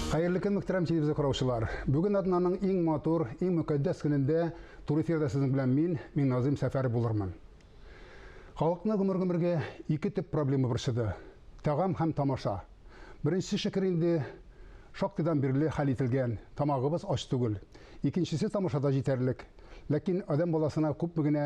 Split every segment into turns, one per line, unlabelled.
Хәерле көн, мөхтәрәм телевизор караучылар. Бүген атнаның иң матур, иң мөкатдәс көнендә туры эфирда сезнең белән мин, мин Назым Сәфәр булырмын. Халыкны гомер-гомергә ике төп проблема борчыды. Тагам һәм тамаша. Беренче шөкер инде шактыйдан бирле хәл ителгән, тамагыбыз ач түгел. Икенчесе тамашада җитәрлек. Ләкин адәм баласына күпме генә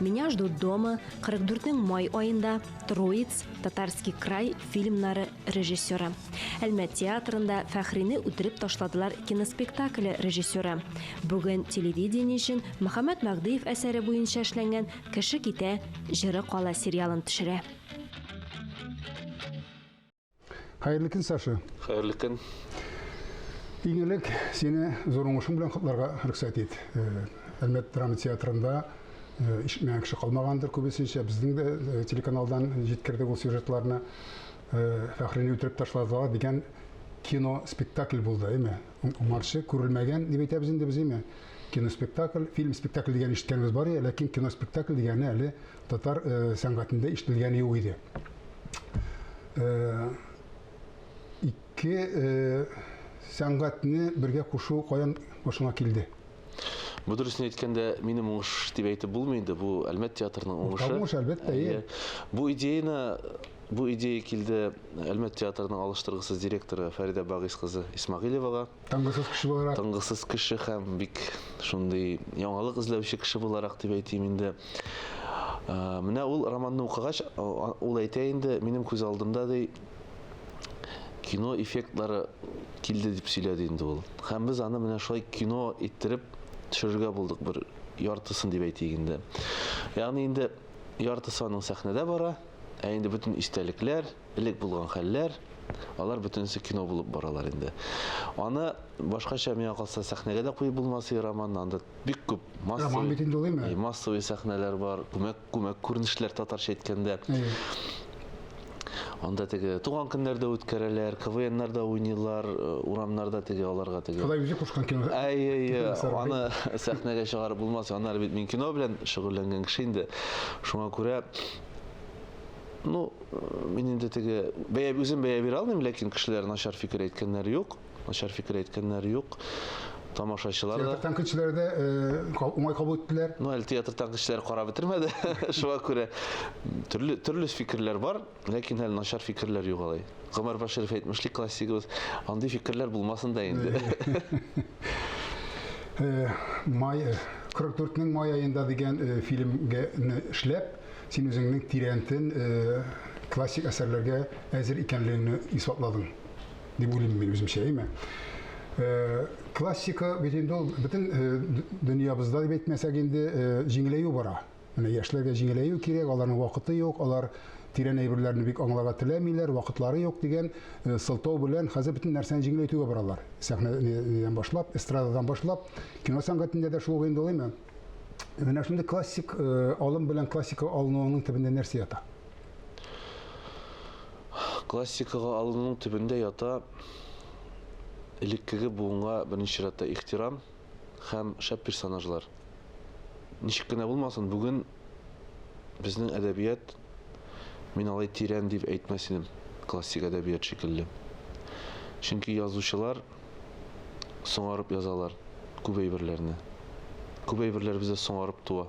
Меня ждут дома, 44 май айында Троиц, Татарский край фильмнары режиссеры. Әлмәт театрында Фәхрине үтереп ташладылар киноспектакле режиссеры. Бүген телевидение өчен Мөхәммәд Мәгдиев әсәре буенча эшләнгән Кеше китә, җыры кала сериалын төшерә.
Хәерле көн, Саша. Хәерле көн. Иң элек сине зур уңышың белән котларга рөхсәт ит. Э, Әлмәт драма театрында э, ишетмәгән кеше калмагандыр күбесенчә. Безнең дә э, телеканалдан җиткердек ул сюжетларны. Фәхрине үтереп ташладылар дигән кино спектакль булды, әйме? Уңарчы күрелмәгән дип әйтәбез инде без, әйме? Киноспектакль, фильм спектакль дигән ишеткәнебез бар иде, ләкин киноспектакль дигәне әле татар сәнгатендә ишетелгәне юк иде. Э, ике э, сәнгатьне бергә кушу каян башыңа килде? Бу
дөресен әйткәндә, минем уңыш дип әйтеп булмый инде, бу Әлмәт театрының уңышы. Уңыш, әлбәттә, иә.
Бу идеяны бу
идея килде Әлмәт театрының алыштыргысыз директоры Фәридә Багыйс кызы Исмагилевага. Тынгысыз кеше буларак.
Тынгысыз кеше һәм
бик шундый яңалык эзләүче кеше буларак дип әйтим инде. Менә ул романны укыгач, ул әйтә инде, минем күз алдымда ди кино эффектлары килде дип сөйләде инде ул. Һәм без аны менә шулай кино иттереп төшерергә булдык бер яртысын дип әйтик инде. Ягъни инде яртысы аның сәхнәдә бара, Ә инде бөтен истәлекләр, элек булган хәлләр, алар бөтенесе кино булып баралар инде. Аны башкача миңа калса сәхнәгә дә куеп булмас и роман, анда бик күп массовый, э, массовый сәхнәләр бар, күмәк күмәк күренешләр татарча әйткәндә. Анда теге туган көннәрдә үткәрәләр, КВНнар да уйныйлар, э, урамнарда теге аларга теге. Ходай үзе кушкан кино.
Әй, әй, әй, аны
сәхнәгә чыгарып булмас. Аннары бит мин кино белән шөгыльләнгән кеше инде. Шуңа күрә Ну, мин инде теге бәя үзем бәя бирә алмыйм, ләкин кешеләр начар фикер әйткәннәр юк. Начар фикер әйткәннәр юк. Тамашачылар да. Театр кешеләре дә
уңай кабул иттеләр. Ну, әле театр кешеләре
карап бетермәде. Шуңа күрә төрле төрле фикерләр бар, ләкин әле начар фикерләр юк алай. Гомәр Баширов әйтмешли классигыбыз, андый фикерләр булмасын да инде. Э,
май 44-нең э, май аенда дигән э, фильмгә эшләп, син үзеңнең тирәнтен классик әсәрләргә әзер икәнлегеңне исбатладың дип уйлыйм мин үземчә, әйме? Классика бит инде ул бөтен дөньябызда дип әйтмәсәк инде җиңеләю бара. Менә яшьләргә җиңеләю кирәк, аларның вакыты юк, алар тирән әйберләрне бик аңларга теләмиләр, вакытлары юк дигән сылтау белән хәзер бөтен нәрсәне җиңеләйтүгә баралар. Сәхнәдән башлап, эстрададан башлап, кино сәнгатендә дә шул инде улыймы? Менә шундый классик алым белән классика алынуының төбендә нәрсә ята?
Классикага алынуның төбендә ята элеккеге буынга беренче чиратта ихтирам. һәм шәп персонажлар. Ничек кенә булмасын, бүген безнең әдәбият, мин алай тирән дип әйтмәс идем, классик әдәбият шикелле. Чөнки язучылар соңарып язалар күп әйберләрне. Күп әйберләр бездә соңарып туа.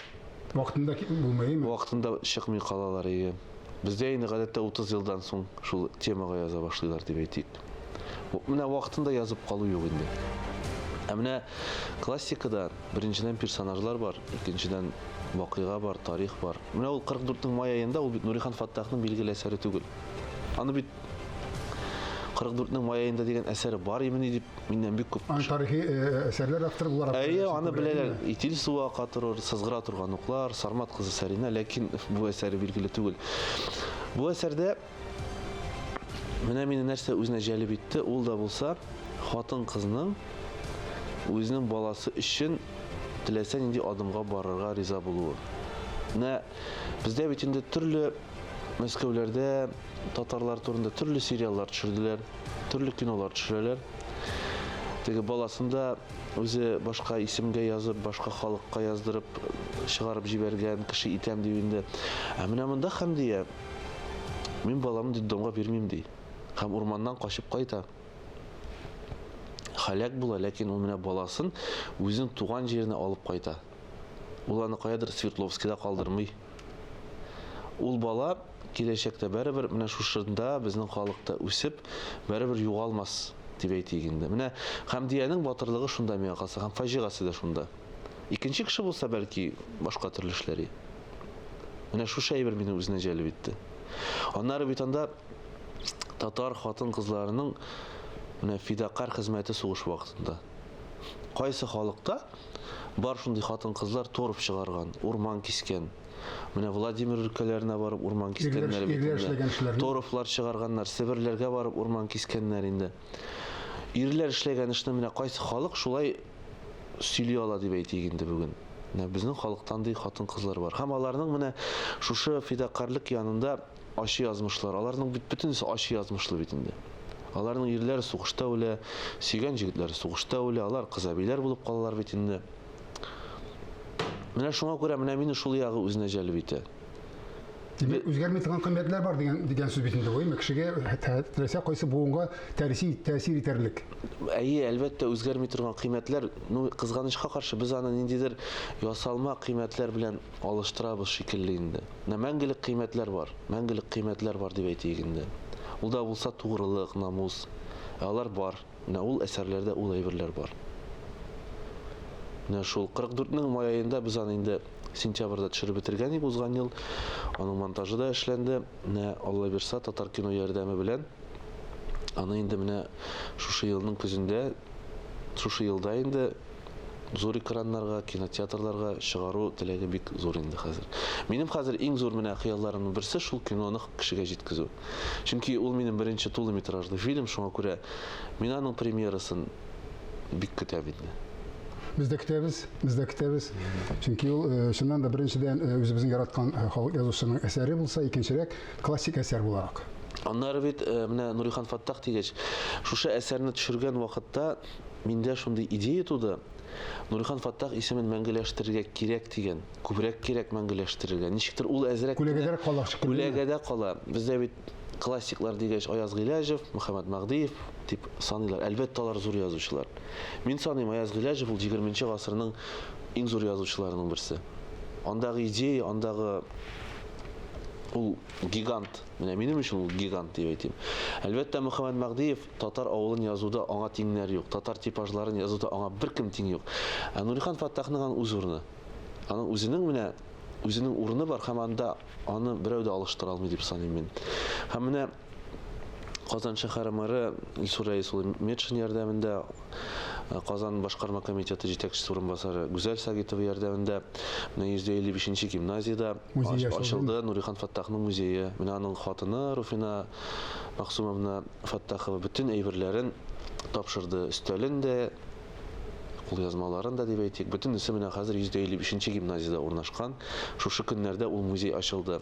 Вакытында китеп
булмый, әйеме? Вакытында чыкмый
калалар, әйе. Бездә инде гадәттә 30 елдан соң шул темага яза башлыйлар дип әйтик. Менә вакытында язып калу юк инде. Ә менә классикада беренчедән персонажлар бар, икенчедән вакыйга бар, тарих бар. Менә ул 44-нең май аенда ул бит Нурихан Фаттахның билгеле әсәре түгел. Аны бит 44-нең май аенда дигән әсәре бар имени дип миннән бик күп. Аны тарихи э, э,
әсәрләр авторы буларак. Әйе, аны беләләр.
Итил суы ака торыр, сызгыра торган уклар, Сармат кызы Сәринә, ләкин бу әсәре билгеле түгел. Бу әсәрдә Менә мине нәрсә үзенә җәлеп итте, ул да булса хатын-кызның үзенең баласы өчен теләсә нинди адымга барырга риза булуы. Менә бездә бит инде төрле Мәскәүләрдә татарлар турында төрле сериаллар төшерделәр, төрле кинолар төшерәләр. Теге баласын да үзе башка исемгә язып, башка халыкка яздырып чыгарып җибәргән кеше итәм дип инде. Ә менә монда Хәмдия Мин баламны детдомга бирмим, ди. Һәм урманнан качып кайта. Һәлак була, ләкин ул менә баласын үзенең туган җиренә алып кайта. Ул аны каядыр Свердловскида калдырмый. Ул бала киләчәктә бәребер менә шушында безнең халыкта үсеп, бәребер югалмас, дип әйтик инде. Менә Хәмдиянең батырлыгы шунда миңа калса, һәм фаҗигасе дә шунда. Икенче кеше булса, бәлки, башка төрле эшләр иде. Менә шушы әйбер мине үзенә җәлеп итте. Аннары бит анда татар хатын-кызларының менә фидакар хезмәте сугыш вакытында. Кайсы халыкта бар шундый хатын-кызлар торып чыгарган, урман кискән. Менә Владимир өлкәләренә барып урман кискәннәр бит инде. Торфлар чыгарганнар, Себерләргә барып урман кискәннәр инде. Ирләр эшләгән эшне менә кайсы халык шулай сөйли ала дип әйтик инде бүген. Менә безнең халыктан ди хатын-кызлар бар. Һәм аларның менә шушы фидакарлык янында ачы язмышлар. Аларның бит бөтенесе ачы язмышлы бит инде. Аларның ирләре сугышта үлә, сөйгән җегетләре сугышта үлә, алар кызабиләр булып калалар бит инде. Менә шуңа күрә менә мине шул ягы үзенә җәлеп итә. Димәк,
үзгәрми торган кыйммәтләр бар дигән дигән сүз бит инде бу, әйме? Кешегә теләсә кайсы буынга тәрси тәэсир итәрлек. Әйе, әлбәттә,
үзгәрми торган кыйммәтләр, ну, кызганычка каршы, без аны ниндидер ясалма кыйммәтләр белән алыштырабыз шикелле инде. Менә мәңгелек кыйммәтләр бар, мәңгелек кыйммәтләр бар дип әйтик инде. Ул да булса тугрылык, намус. Ә алар бар. Менә ул әсәрләрдә ул әйберләр бар. Менә шул 44 нең май аенда без аны инде сентябрьдә төшереп бетергән идек узган ел. Аның монтажы да эшләнде. Менә Алла бирса, Татар кино ярдәме белән аны инде менә шушы елның көзендә, шушы елда инде зур экраннарга, кинотеатрларга чыгару теләге бик зур инде хәзер. Минем хәзер иң зур менә хыялларымның берсе шул киноны кешегә җиткезү. Чөнки ул минем беренче тулы метражлы фильм, шуңа күрә мин аның премьерасын бик көтәм инде. Без дә
көтәбез, без дә көтәбез. Чөнки ул э, чыннан да беренчедән э, үзебезнең яраткан э, халык язучысының әсәре булса, икенчерәк классик әсәр буларак. Аннары бит
менә Нурихан Фаттах дигәч, шушы әсәрне төшергән вакытта Миндә шундый идея туды, Нурихан Фаттах исемен мәңгеләштерергә кирәк дигән. Күбрәк кирәк мәңгеләштерергә. Ничектер ул әзрәк кенә. Күләгәдә кала шикелле.
Күләгәдә кала.
Бездә бит классиклар дигәч Аяз Гыйләҗев, Мөхәммәт Мәгъдиев дип саныйлар. Әлбәттә, алар зур язучылар. Мин саныйм, Аяз Гыйләҗев ул егерменче гасырның иң зур язучыларының берсе. Андагы идея, андагы ул гигант. Менә минем өчен ул гигант дип әйтим. Әлбәттә, Мөхәммәт Мәгъдиев Татар авылын язуда аңа тиңнәр юк, татар типажларын язуда аңа беркем тиң юк. Ә Нурихан Фаттахның ан үз урыны. Аның үзенең менә үзенең урыны бар һәм анда аны берәү дә алыштыра алмый дип саныйм мин. Һәм менә Казан шәһәре мэры Илсур Рәис улы Метшин ярдәмендә, Казан башкарма комитеты җитәкчесе урынбасары Гүзәл Сагитова ярдәмендә менә 150 бишенче гимназиядә ачылды Нурихан Фаттахның музее. Менә аның хатыны Руфина Максумовна Фәттахова бөтен әйберләрен тапшырды, өстәлен дә, кулъязмаларын да дип әйтик, бөтенесе менә хәзер 155 гимназиядә урнашкан. Шушы көннәрдә ул музей ачылды.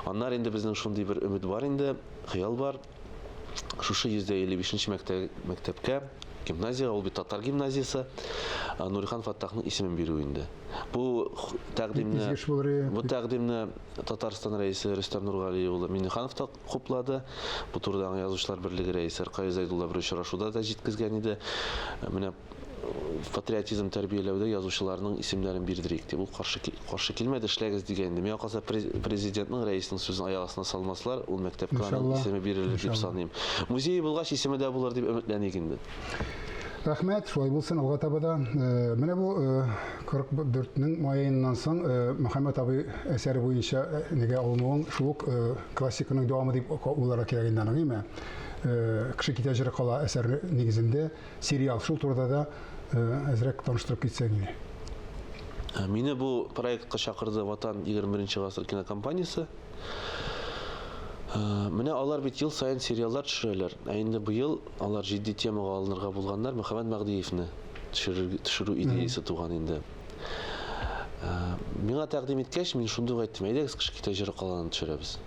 Аннары инде безнең шундый бер өмет бар инде, хыял бар, шушы 155 мәктәпкә, гимназиягә, ул бит татар гимназиясе, Нурихан Фәттахның исемен бирү инде. Бу тәкъдимне, бу тәкъдимне Татарстан Рәисе Рөстәм Нургали улы Миңнеханов та хуплады. Бу турыда аңа Язучылар берлеге рәисе Ркаи Зәйдулла бер очрашуда да җиткезгән иде. Менә патриотизм тәрбияләүдә язучыларның исемнәрен бирдерик дип. Ул каршы, каршы килмәде, эшләгез дигән иде. Миңа калса, президентның, рәиснең сүзен аяк астына салмаслар, ул мәктәпкә аның исеме бирелер дип саныйм. Музее булгач, исеме дә булыр дип өметләник инде. Рәхмәт,
шулай булсын алга таба да. Э, менә бу 44-нең э, маеннан соң э, Мөхәммәт абый әсәре буенча нигә алынуын шул ук классиканың дәвамы дип уйларга кирәк инде аның, әйме? Кеше китә җыры кала әсәре нигезендә сериал шул турыда да әзрәк таныштырып китсәң иде. Ә,
мине бу проектка чакырды Ватан 21 гасыр кинокомпаниясе. Ә, менә алар бит ел сайын сериаллар төшерәләр. Ә инде быел Алар җитди темага алынырга булганнар, Мөхәммәт Мәгъдиевне төшерү идеясе туган инде. Миңа тәкъдим иткәч, мин шундый ук әйттем, әйдәгез кыш китә җыры каланын төшерәбез.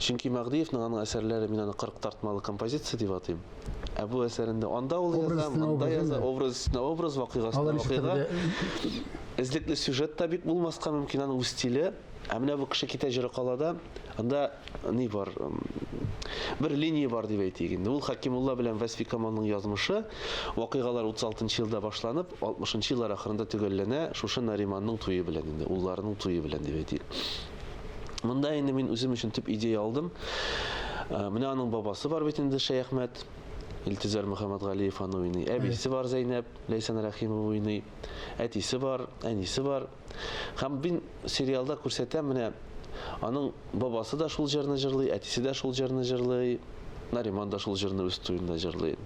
Чөнки Мәгъдиевнең аның әсәрләре, мин аны 40 тартмалы композиция дип атыйм. Ә бу әсәрендә анда ул яза, монда яза, образ өстенә образ, вакыйга өстенә вакыйга. Эзлекле сюжет та бик булмаска мөмкин, аның үз стиле. Ә менә бу кеше китә җыры кала да, анда ни бар? Бер линия бар дип әйтик инде. Ул Хакимулла белән Вәсфи Камалның язмышы, вакыйгалар 36 елда башланып, 60 еллар ахырында төгәлләнә, шушы Нариманның туе белән инде, улларының туе белән дип әйтик. Монда инде мин үзем өчен төп идея алдым. Ә, менә аның бабасы бар бит инде Шәяхмәт, Илтизар Мөхәммәтгалиев аның әбисе бар Зәйнәп, Ләйсән Рәхимова уйный, әтисе бар, әнисе бар. Һәм мин сериалда күрсәтәм, менә аның бабасы да шул җырны җырлый, әтисе дә шул җырны җырлый, Нариман да шул җырны үз туенда җырлый.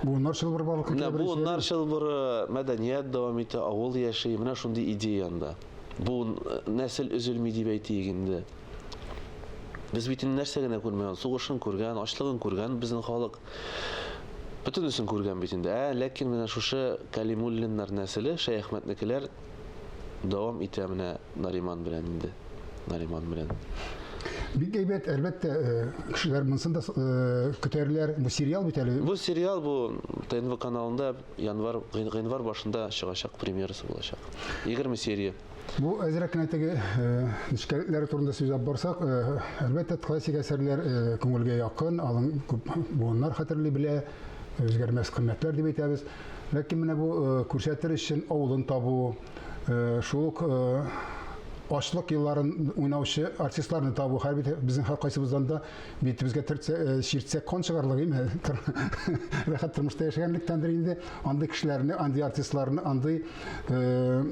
Буыннар чылбыры барлыкка килә беренче. Буыннар чылбыры,
мәдәният дәвам итә, авыл яши, менә шундый идея анда. Буын э, нәсел өзелми дип әйтик инде. Без бит нәрсә генә күрмәгән, сугышын күргән, ачлыгын күргән безнең халык. Бөтенесен күргән бит инде, ә? Ләкин менә шушы Кәлимуллиннар нәселе, Шәяхмәтнекеләр дәвам итә менә Нариман белән инде. Нариман белән. Бик
әйбәт, әлбәттә, кешеләр монысын да көтәрләр. Бу сериал бит әле. Бу сериал бу
ТНВ каналында январь, гыйнвар башында чыгачак, премьерасы булачак. 20 серия. Бу әзрәк кенә
теге нечкәлекләре турында сөйләп барсак, әлбәттә, классик әсәрләр күңелгә якын, алын күп буыннар хәтерли белә, үзгәрмәс кыйммәтләр дип әйтәбез. Ләкин менә бу күрсәтер өчен авылын табу, шул ук ачлык елларын уйнаучы артистларны табу, һәр безнең һәркайсыбыздан да Битебезгә төртсә, э, чиртсә кан чыгарлык име? Рәхәт тормышта яшәгәнлектәндер инде. Андый кешеләрне, андый артистларны, андый э,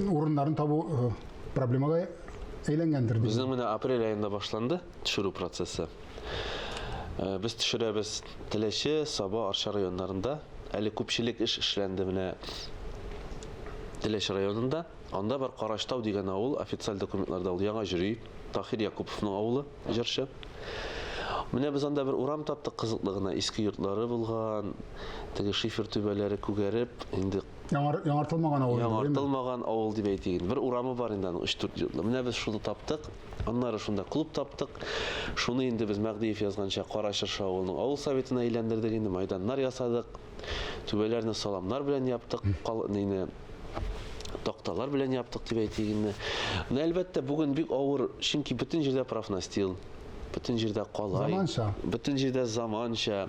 урыннарын табу э, проблемага әйләнгәндер. Безнең менә апрель
айында башланды төшерү процессы. Э, без төшерәбез Теләче, Саба, Арча районнарында. Әле күпчелек эш эшләнде менә Теләче районында. Анда бар Караштау дигән авыл, официаль документларда ул яңа җөри. Таһир Якуповның авылы, җырчы. Менә без анда бер урам таптык кызыклы гына, иске йортлары булган, теге шифер түбәләре күгәреп, инде Яңар, яңартылмаган
авыл. Яңартылмаган авыл дип
әйтик. Бер урамы бар инде аның 3-4 йортлы. Менә без шуны таптык. Аннары шунда клуб таптык. Шуны инде без Мәгдиев язганча Кара Чыршы авылының авыл советына әйләндердек инде, майданнар ясадык. Түбәләрне саламнар белән яптык, кал нейне такталар белән яптык дип әйтик инде. Менә әлбәттә бүген бик авыр, чөнки бөтен җирдә профнастил, бөтен җирдә калай, заманча. бөтен җирдә заманча,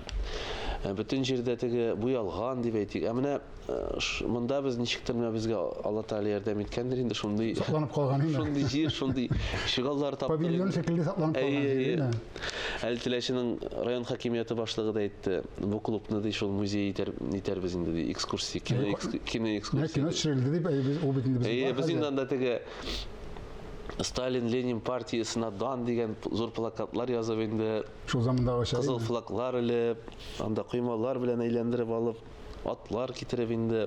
э, бөтен җирдә теге буялган дип әйтик. Ә менә э, ш- монда без ничектер менә безгә Алла Тәгалә ярдәм иткәндер инде шундый Сакланып калган инде. шундый
җир, шундый
чыгаллар таптык. Павильон инде. шикелле сакланып Әйе,
калган җир, әйе. әйме? Әле
Теләченең район хакимияте башлыгы да әйтте, бу клубны ди шул музей итәр, итәрбез инде ди, экскурсия, кино, экс, кино Менә экскурсия. кино төшерелде дип, әйе,
без- ул бит инде безнең Әйе, бар без хәзер. инде анда теге
Сталин, Ленин партиясенә дан дигән п- зур плакатлар язып инде, Шул замандагыча.
кызыл флаглар
элеп, анда коймалар белән әйләндереп алып, атлар китереп инде.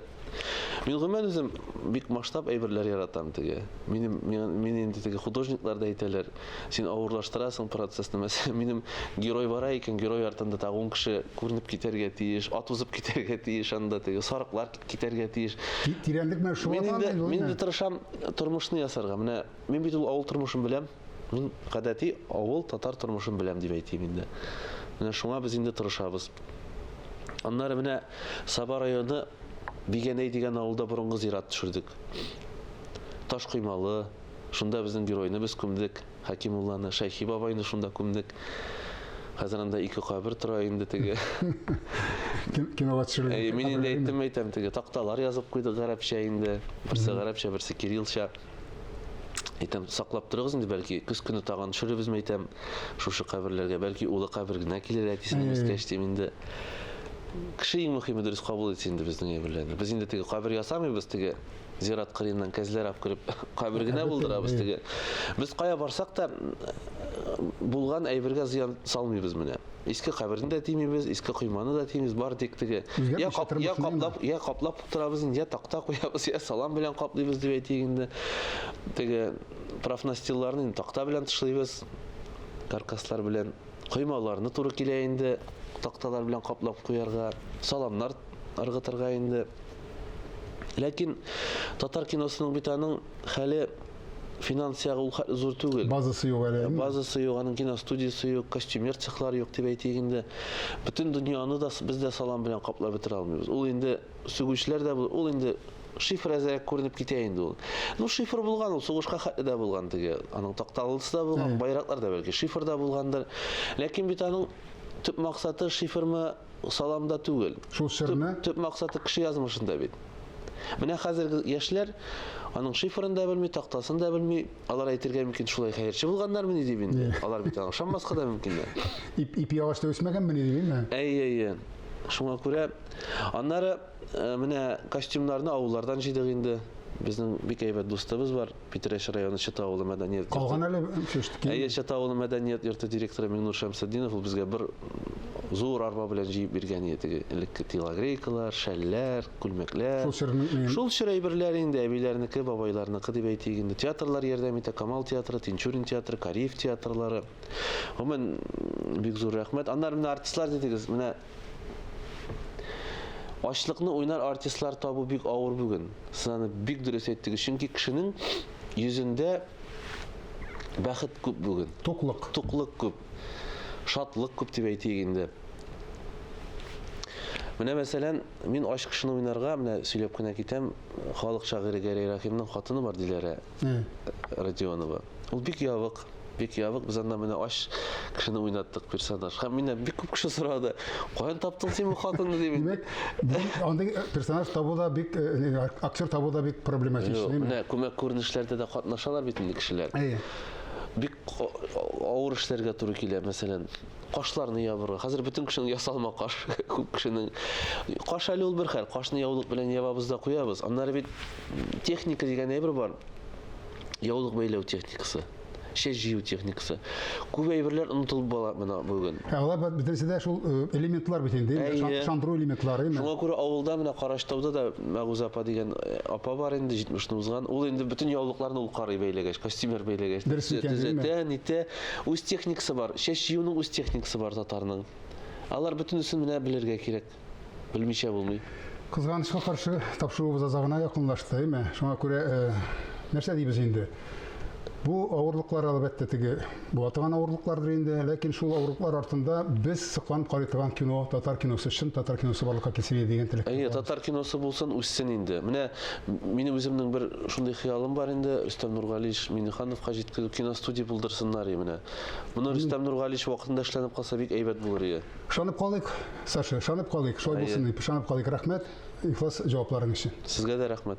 Мин гомумән үзем бик масштаб әйберләр яратам теге. Минем мин инде теге художниклар да әйтәләр, син авырлаштырасың процессны. Мәсәлән, минем герой бара икән, герой артында тагы 10 кеше күренеп китәргә тиеш, ат узып китәргә тиеш анда теге, сарыклар китәргә тиеш. Тирәнлек менә шул.
Мин инде мин инде тырышам
тормышны ясарга. Менә мин бит ул авыл тормышын беләм. Мин гадәти авыл татар тормышын беләм дип әйтим инде. Менә шуңа без инде тырышабыз. Аннары менә Саба районы Бигәнәй дигән авылда борынгы зират төшердек. Таш коймалы, шунда безнең геройны без күмдек, Хәкимулланы, Шәйхи бабайны шунда күмдек. Хәзер анда ике кабер тора инде теге.
Кинога төшерелгән. Әй, мин инде әйттем, әйтәм,
теге такталар язып куйдык гарәпчә инде. Берсе гарәпчә, берсе кириллча. Әйтәм, саклап торыгыз инде, бәлки көз көне тагын төшерербезме әйтәм, шушы каберләргә, бәлки улы кабер генә килер әтисен имескәч дим инде. Кеше иң мөһиме дөрес кабул итсен инде безнең әйберләрне. Без инде теге кабер ясамыйбыз, теге зират кырыеннан кәзләр алып кереп кабер генә булдырабыз теге. Без кая барсак та булган әйбергә зыян салмыйбыз менә. Иске каберне дә тимибез, иске койманы да тимибез, бар тик теге я каплап, я каплап Торабыз инде, йә такта куябыз, йә салам белән каплыйбыз дип әйтик инде. Теге профнастилларны инде такта белән тышлыйбыз, каркаслар белән. Коймаларны туры килә инде такталар белән каплап куярга, саламнар ыргытырга инде. Ләкин татар киносының бит аның хәле финанс ягы ул хәтле зур түгел. Базасы юк әле. Ә,
базасы юк, аның
киностудиясе юк, костюмер цехлар юк дип әйтик инде. Бөтен дөньяны да без дә салам белән каплап бетерә алмыйбыз. Ул инде сүгүчләр дә бу, ул инде шифр әзрәк күренеп китә инде ул. Ну шифр булган ул, сугышка хәтле дә булган теге. Аның такталысы да булган, байраклар да бәлки шифр да булгандыр. Ләкин бит аның төп максаты шифрмы саламда түгел. Шул серне? Төп,
төп максаты кеше
язмышында бит. Менә хәзерге яшьләр аның шифрын да белми, тактасын да белми. Алар әйтергә мөмкин, шулай хәерче булганнармы дип инде. Алар бит аңа ышанмаска да мөмкин. Ип, ипи агачта
үсмәгәнме ни дип инде. Әй, әй, әй.
Шуңа күрә аннары э, менә костюмнарны авыллардан җыйдык инде. Безнең бик әйбәт дустыбыз бар. Питрәч районы Чыта авылы мәдәният йорты. Калган әле
чөштки. Әйе, Чыта авылы мәдәният
йорты директоры Миңнур Шәмсетдинов ул безгә бер зур арба белән җыеп биргән иде теге элекке телогрейкалар, шәлләр, күлмәкләр. Шул чор Шул
чор әйберләр
инде әбиләрнеке, бабайларныкы дип әйтик инде. Театрлар ярдәм итә, Камал театры, Тинчурин театры, Кариев театрлары. Гомумән бик зур рәхмәт. Аннары менә артистлар дидегез, менә Ачлыкны уйнар артистлар табу бик авыр бүген. Сез аны бик дөрес әйттегез, чөнки кешенең йөзендә бәхет күп бүген. Туклык. Туклык күп. Шатлык күп дип әйтик инде. Менә мәсәлән, мин ач кешене уйнарга, менә сөйләп кенә китәм, халык шагыйре Гәрәй Рәхимнең хатыны бар, Диләрә Родионова. Ул бик ябык, Бик ябык, без анда менә ач кешене уйнаттык персонаж. Һәм миннән бик күп кеше сорады, каян таптың син бу хатынны дип. Димәк,
андый персонаж табу да бик, э, э, актер табу да бик проблематич. Юк, менә күмәк
күренешләрдә дә катнашалар бит инде кешеләр. Әйе. Бик авыр эшләргә туры килә, мәсәлән, кашларны ябырга. Хәзер бөтен кешенең ясалма каш, күп кешенең. Каш әле ул бер хәл, кашны яулык белән ябабыз да куябыз. Аннары бит техника дигән әйбер бар. яулык бәйләү техникасы, чәч җыю техникасы. Күп әйберләр онытылып бала менә бүген. Ә алар бөтенесе дә
шул э, элементлар бит инде, шандыру элементлары. Шуңа күрә авылда менә
Караштауда да Мәгүзә апа дигән э, апа бар инде 70-ны узган. Ул инде бөтен яулыкларны ул карый бәйләгәч, костюмер бәйләгәч, төзәтә, нитә. Үз техникасы бар. Чәч җыюның үз техникасы бар татарның. Алар бөтенесен менә белергә кирәк. Белмичә булмый. Кызганычка каршы,
тапшыруыбыз аза гына якынлашты, әйме? Шуңа күрә нәрсә дибез инде? Бу авырлыклар, әлбәттә, теге була торган авырлыклардыр инде, ләкин шул авырлыклар артында без сокланып карый торган кино, татар киносы, чын татар киносы барлыкка килсен иде дигән теләк. Әйе, татар киносы
булсын, үссен инде. Менә минем үземнең бер шундый хыялым бар инде, Рөстәм Нургалиевич Миннехановка җиткереп киностудия булдырсыннар и менә. Моны Рөстәм Нургалиевич вакытында эшләнеп калса бик әйбәт булыр иде. Шанып калыйк,
Саша, шанып калыйк, шулай булсын дип, шанып калыйк. Рәхмәт, ихлас җавапларың өчен. Сезгә дә рәхмәт.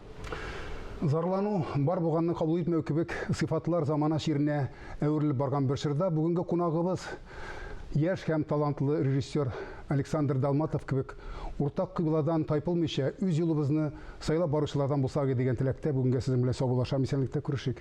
Зарлану,
бар булганны кабул итмәү кебек сыйфатлар замана чиренә әверелеп барган бер чорда бүгенге кунагыбыз яшь һәм талантлы режиссер Александр Далматов кебек уртак кыйбладан тайпылмыйча үз юлыбызны сайлап баручылардан булсак иде дигән теләктә бүгенгә сезнең белән саубуллашам, исәнлектә күрешик.